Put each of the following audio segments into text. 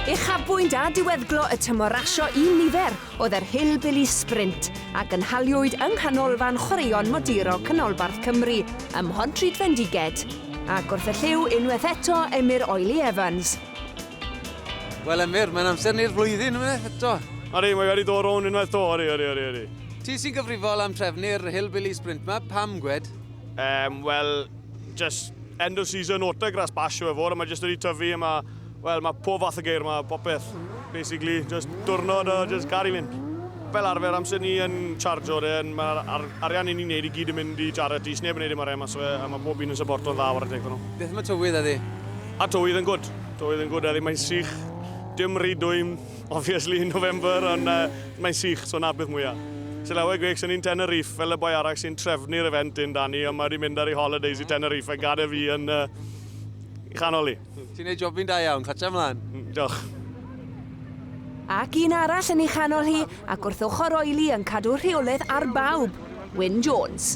Uchafbwynt a diweddglo y tymor rasio un nifer oedd yr Hillbilly Sprint, a gynhaliwyd yng Nghanolfan Chwaraeon Modurol Canolbarth Cymru ym Mhontrhydfendiged, ac wrth y llyw unwaith eto Emyr Oily Evans. Wel Emyr, mae'n amser ni'r flwyddyn unwaith eto. Ydy, mae wedi dod rownd unwaith to, ydy, ydy, ydy, ydy. Ti sy'n gyfrifol am trefnu'r Hillbilly Sprint 'ma, pam gwed? Yym, wel, Just end of season autograss bash yw e fod, a mae jyst wedi tyfu, a mae, wel, mae pob fath o geir, mae popeth, basically, just diwrnod o just gael i fynd. Fel arfer, amser ni yn chargio de, mae'r ar, arian i ni'n neud i gyd yn mynd i charity, sneb yn neud i mae'r emas fe, a mae pob un yn supporto'n dda o'r adeg nhw. Beth mae tywydd eddi? A tywydd yn gwrdd, tywydd yn gwrdd eddi, mae'n sych, dim rhy dwym, Obviously November ond yy mae'n sych so 'na peth mwya. Sy lawer gwech sy'n un Tenerife fel y boi arall sy'n trefnu'r event un Dani ond mae 'di mynd ar ei holidays i Tenerife a gade fi yn yy i chanol i. Ti'n neud job fi'n da iawn, clatsia mlan! Diolch. Ac un arall yn ei chanol hi ac wrth ochr Oili yn cadw rheoledd ar bawb, Wyn Jones.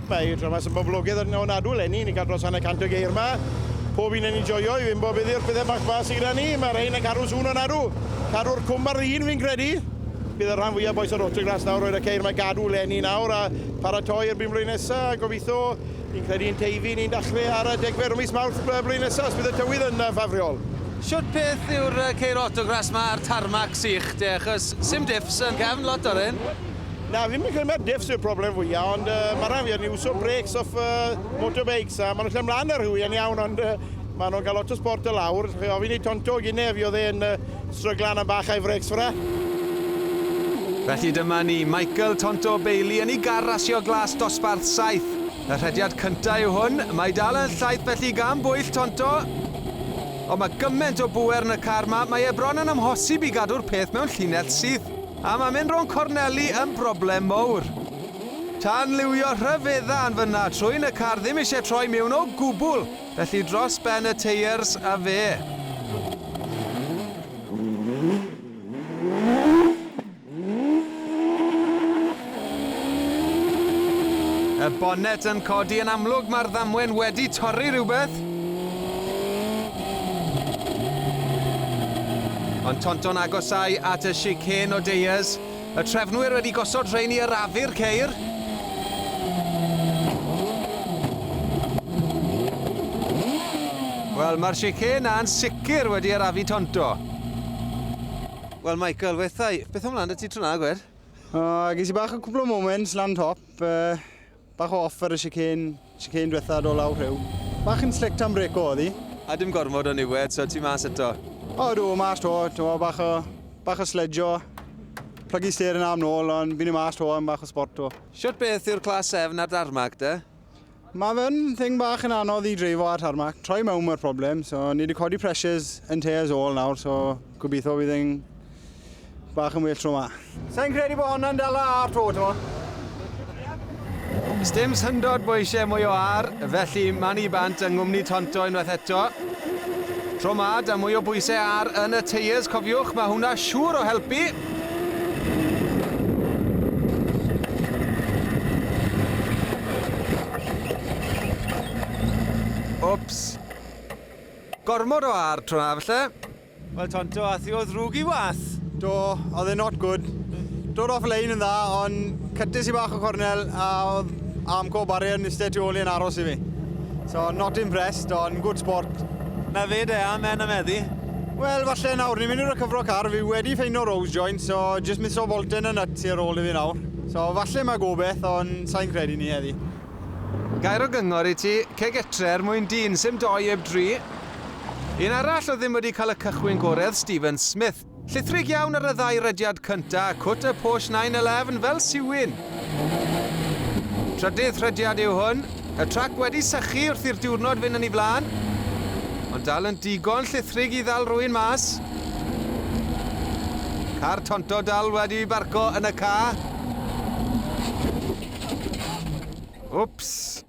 Mae Thomas yn boblogaidd yn ofnadw eleni, ni'n cael dros hanner cant o geir yma. Pob un yn ei joio, i fi'n bob iddi o'r pethau bach fa sy gyda ni, mae rhain yn cadw'n sŵn ofnadw. Cadw'r cwm ar ddyn fi'n credu. Bydd y rhan fwyaf bois o'r Autograss nawr roed y ceir mae gadw eleni nawr a paratoi erbyn blwyddyn nesa, gobitho, ni'n credu yn Teifi, ni'n dachrau ar y degfed o mis Mawrth blwyddyn nesa, os bydd y tywydd yn ffafriol. Shwt peth yw'r ceir Autograss ma a'r tarmac sych de, achos sim diffs yn cefn lot o'r hyn? Na, ddim yn credu mae'r diffs yw'r problem fwyaf, ond uh, mae rhaid fi yn iwso breaks off uh, motorbikes, a maen nhw'n lle mlaen ar hwy yn iawn, ond uh, maen nhw'n cael lot o sport y lawr. Chi ofyn i Tonto Gine, fi oedd e'n uh, stryglan am bach a'i frecs ffra. Felly dyma ni, Michael Tonto Bailey yn ei gar rasio glas dosbarth 7. Y rhediad cyntaf yw hwn, mae dal yn llaith felly gan bwyll Tonto. Ond mae gymaint o bwer yn y car ma, mae e bron yn amhosib i gadw'r peth mewn llinell syth. A mae mynd rownd corneli yn broblem mowr. Tanliwio rhyfedda yn fyna trwyn y car ddim eisiau troi miwn o gwbl, felly dros ben y teiers a fe. Y bonnet yn codi yn amlwg, mae'r ddamwen wedi torri rhywbeth. Ond Tonton agosau at y chicane o deiars. Y trefnwyr wedi gosod rhein i arafu'r ceir. Wel, mae'r chicane na'n sicr wedi arafu Tonto. Wel, Michael, wethau, beth o'n mlaen da ti tro na, gwed? Uh, ges i bach o cwbl o moments lan top, uh, bach o off ar y chicane, chicane diwetha do lawr rhyw. Bach yn slick tam brec o oddi. A dim gormod o niwed, so ti mas eto? O, dw, mas to, to bach o, bach o sledjo. Plygu ster yn am nôl, ond fi'n mas to am bach o sport to. Siwt beth yw'r clas sefn a'r darmag, de? Mae fe'n thing bach yn anodd i dreifo ar tarmac. Troi mewn mae'r problem. So, ni wedi codi pressures yn te as all nawr, so gobeithio bydd yn bach yn well tro ma. Sa'n credu bod hwnna'n dala ar to, ti'n mo? Sdim syndod bod eisiau mwy o ar, felly man i bant yng nghwmni Tonto unwaith eto. Tro ma, da mwy o bwysau ar yn y tyres, cofiwch, mae hwnna siŵr o helpu. Wps. Gormod o ar tro na falle. Wel Tonto, ath i o ddrwg i was. Do, oedd e not good. Dod off lane yn dda, ond cytys i bach o cornel a oedd Amco Barrier yn eistedd tu ôl i'n aros i fi. So, not impressed, ond good sport. Na fe de, amen am eddi. Wel, falle nawr, ni'n mynd i'r cyfro car, fi wedi ffeinio rose joint, so jyst misio folten y nut ar ôl i fi nawr. So, falle mae gobeth, ond sa'n credu ni heddi. Gair o gyngor i ti, ceg etre er mwyn dyn, sim doi eb dri. Un arall oedd ddim wedi cael y cychwyn goredd, Stephen Smith. Llithrig iawn ar y ddau rediad cynta, cut a push 9-11 fel siwyn. Trydydd rhediad yw hwn. Y trac wedi sychu wrth i'r diwrnod fynd yn ei flaen, ond dal yn digon llithrig i ddal rhywun mas. Car Tonto dal wedi barco yn y ca. Wps!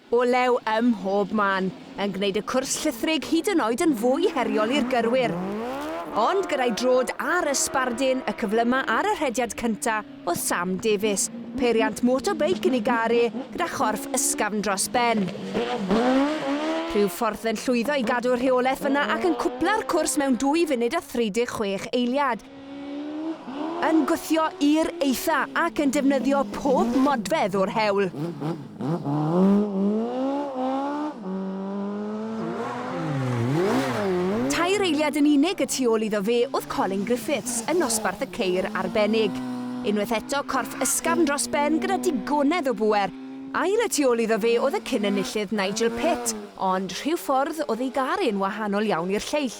Olew ym mhob man, yn gwneud y cwrs llithrig hyd yn oed yn fwy heriol i'r gyrwyr. Ond gyda'i drod ar y sbardun, y cyflyma ar y rhediad cyntaf oedd Sam Davies, peiriant motobeic yn ei gar e, gyda chorff ysgafn dros ben. Rhyw ffordd yn llwyddo i gadw'r rheolaeth fyna ac yn cwpla'r cwrs mewn dwy funud a 36 eiliad. yn gwthio i'r eitha ac yn defnyddio pob modfedd o'r hewl. Tair eiliad yn unig y tu ôl iddo fe oedd Colin Griffiths yn nosbarth y ceir arbennig. Unwaith eto corff ysgafn dros ben gyda digonedd o bŵer. Ail y tu ôl iddo fe oedd y cyn-enillydd Nigel Pitt, ond rhyw ffordd oedd ei gar e'n wahanol iawn i'r lleill.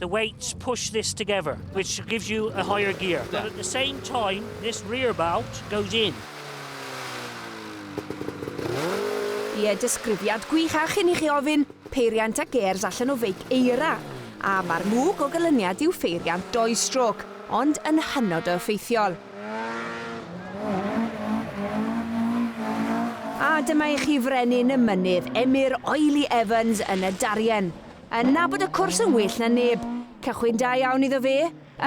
The weights push this together, which gives you a higher gear. But at the same time, this rear bout goes in. Ie, disgrifiad gwych a chyn i chi ofyn, peiriant a gêrs allan o feic eira. A mae'r mwg o gylyniad yw pheiriant doi strôc, ond yn hynod o effeithiol. A dyma i chi frenin y mynydd, Emyr Oily Evans yn y Darien. Yn nabod y cwrs yn well na neb. Cychwyn da iawn iddo fe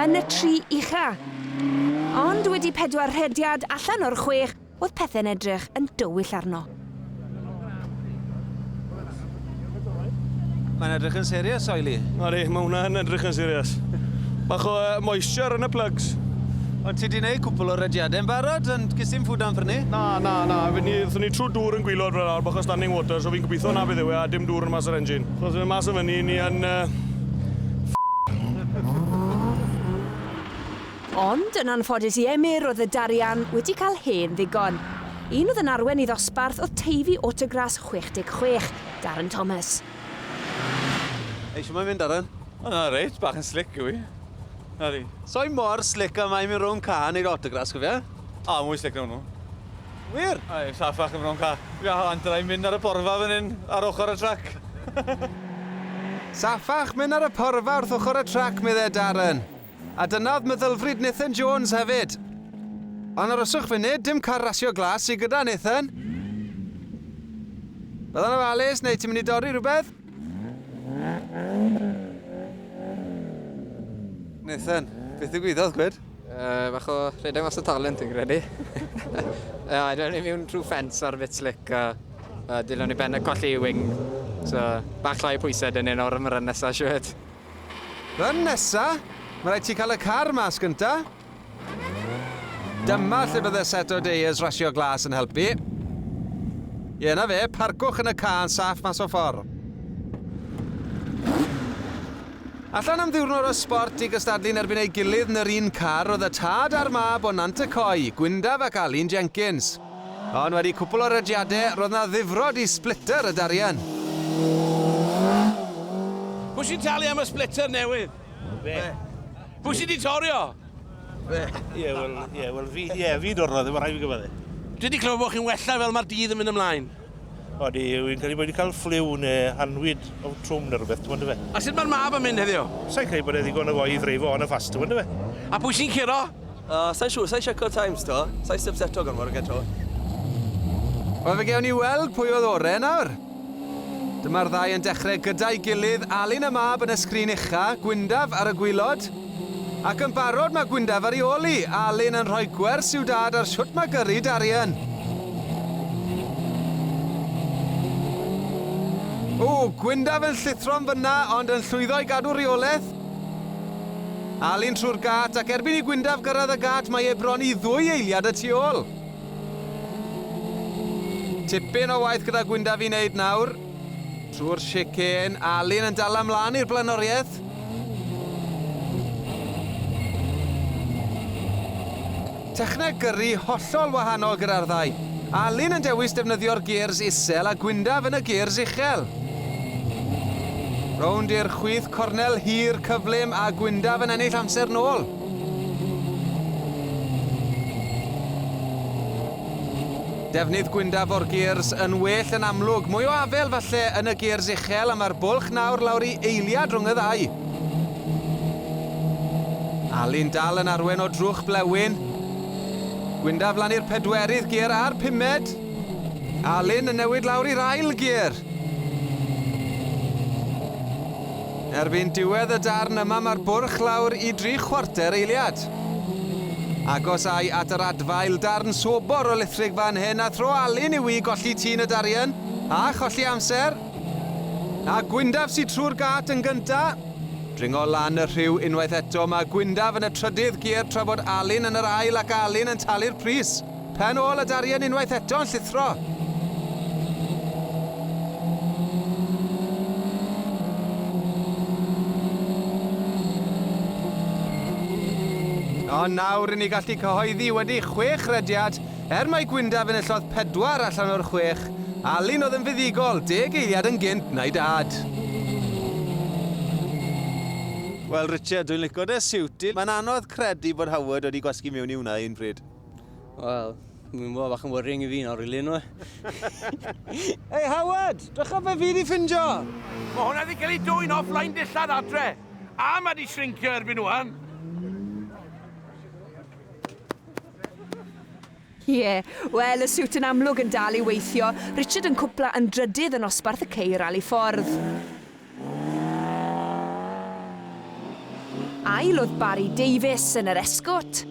yn y tri ucha. Ond wedi pedwar rhediad allan o'r chwech, oedd pethe'n edrych yn dywyll arno. Mae'n edrych yn serious, Oily. Odi, mae hwnna yn edrych yn serious. Bach o uh, moisture yn y plugs. Ond ti di neud cwpl o rediadau yn barod, ond gys i'n ffwd am ffyrnu? Na, na, na. Fydni, ni trwy dŵr yn gwylod fel awr, bach o standing water, so fi'n gobeithio na fydd yw e, a dim dŵr yn How's yr engine? So os ydyn nhw'n mas o fyny, ni yn... Ond, yn anffodus i Emyr, oedd y darian wedi cael hen ddigon. Un oedd yn arwen i ddosbarth oedd Teifi Autogras 66, Darren Thomas. Ei, siwm mae'n mynd, Darren? O, na, reit, bach yn slic yw i. Na di. So'i mor slic a mae'n mynd rhwng car neu'r autogras, cofia? O, mwy slic na hwnnw. Wir? Aye, I'm sat back in my own car. Ia, ond dylai mynd ar y porfa fan hyn, ar ochr y trac. Saffach mynd ar y porfa wrth ochr y trac, meddai Darren. A dyna oedd meddylfryd Nathan Jones hefyd. Ond aroswch funud, dim car rasio glas sydd gyda Nathan. Byddai'n ofalus, neu ti'n mynd i dorri rhywbeth? Nathan, beth ddigwyddodd, gwed? Uh, bach o rhedeg mas o talent dwi'n credu. uh, Dylen ni mewn trwy ffens ar fit slick a uh, dylen ni ben y colli i wing. So, bach llai pwysau dyn ni'n o'r ymryn nesaf siwed. Run nesa, mae rhaid ti cael y car mas gynta. Dyma lle bydde set o deiers rasio glas yn helpu. Ie, na fe, parcwch yn y car yn saff mas o ffordd. Allan am ddiwrnod o sbort i gystadlu yn erbyn ei gilydd yn yr un car oedd y tad a'r mab o Nant y Coe, Gwyndaf ac Alun Jenkins. Ond wedi cwpl o rediadau, roedd 'na ddifrod i splitter y darian. Pwy sy'n talu am y splitter newydd? Fe. Pwy sy 'di torri o? Fe. Ie, wel, ie, wel fi, ie, fi dorrodd e, ma' rhaid fi gyfadde. Dwi 'di clywed bod chi'n wella fel ma'r dydd yn mynd ymlaen. Odi, wi'n credu bod wedi cael ffliw neu hanwyd o trwm neu rhywbeth, ti'n fe? A sut mae'r mab yn mynd heddiw? Sa'n credu bod e ddigon o foi i ddreifo on a fast, ti'n fe? A pwy sy'n curo? Uh, sa'n siŵr, sa'n siarcod times to, sa'n subseto gormod o gento. Wel fe gewn ni weld pwy oedd ore nawr. Dyma'r ddau yn dechrau gyda'i gilydd, Alun a mab yn y sgrin ucha, Gwyndaf ar y gwylod. Ac yn barod mae Gwyndaf ar ei ôl i, Alun yn rhoi gwers i'w dad ar shwt mae gyrru Darian. O, Gwyndaf yn llithro yn fynna ond yn llwyddo i gadw reolaeth. Alun trwy'r gât ac erbyn i Gwyndaf gyrraedd y gât mae e bron i ddwy eiliad y tu ôl. Tipyn o waith gyda Gwyndaf i wneud nawr. Trwy'r chicane, Alun yn dala mlaen i'r blaenoriaeth. Techneg gyrru hollol wahanol gyda'r ddau. Alun yn dewis defnyddio'r gears isel a Gwyndaf yn y gears uchel. Rownd i'r chwith cornel hir cyflym a Gwyndaf yn ennill amser nôl. Defnydd gwyndaf o'r gears yn well yn amlwg. Mwy o afel falle yn y gears uchel a mae'r bwlch nawr lawr i eiliad rhwng y ddau. Alun dal yn arwen o drwch blewyn. Gwyndaf lan i'r pedwerydd gear a'r pumed. Alun yn newid lawr i'r ail gear. Erbyn diwedd y darn yma mae'r bwrch lawr i dri chwarter eiliad. Agosai at yr adfail darn sobor o lithrig fan hyn a thro Alun yw i golli tun y darian, a cholli amser. A Gwyndaf sy trwy'r gât yn gynta'. Dringo lan y rhiw unwaith eto, mae Gwyndaf yn y trydydd gier tra bod Alun yn yr ail ac Alun yn talu'r pris. Pen ôl a darien unwaith eto yn llithro. Ond nawr ry'n ni gallu cyhoeddi wedi chwech rhediad, er mai Gwyndaf enillodd pedwar allan o'r chwech, Alun oedd yn fuddugol, deg eiliad yn gynt na'i dad. Wel Richard, dwi'n lico dy siwt di. Mae'n anodd credu bod Howard wedi gwasgu mewn i hwnna un pryd. Wel, mi'n bod bach yn worrying i fi nawr, really, nhw. Hei, Howard! Dwch o fe fi di ffindio! Mae hwnna wedi cael ei dwy'n offline dillad adre. A mae di shrinkio erbyn nhw'n. Ie, yeah. wel, y siwt yn amlwg yn dal i weithio. Richard yn cwpla yn drydydd yn osbarth y ceir al i ffordd. Ail oedd Barry Davies yn yr Escort.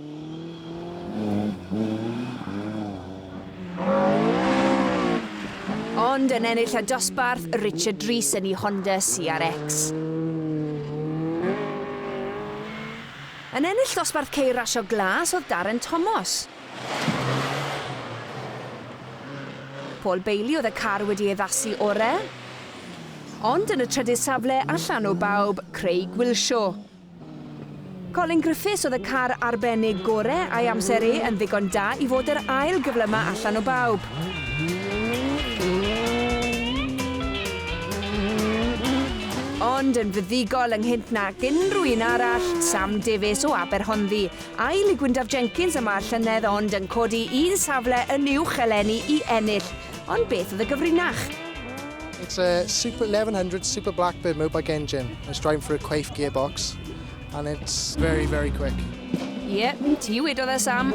Ond yn ennill y dosbarth, Richard Rees yn ei Honda CRX. Yn ennill dosbarth ceir rasio glas oedd Darren Tomos. Paul Bailey oedd y car wedi ei addasu ore. Ond yn y trydydd safle allan o bawb, Craig Wilshaw. Colin Griffiths oedd y car arbennig gore a'i amser e yn ddigon da i fod yr ail gyflyma allan o bawb. Ond yn fuddugol ynghynt nag unrhyw un arall, Sam Davies o Aberhonddu. Ail i Gwyndaf Jenkins y mae'r llynedd ond yn codi un safle yn uwch eleni i ennill. Ond beth oedd y gyfrinach? It's a Super 1100 Super Blackbird Mobike engine. It's driving for a Quaife gearbox and it's very, very quick. Ie, yeah, ti wedodd e Sam.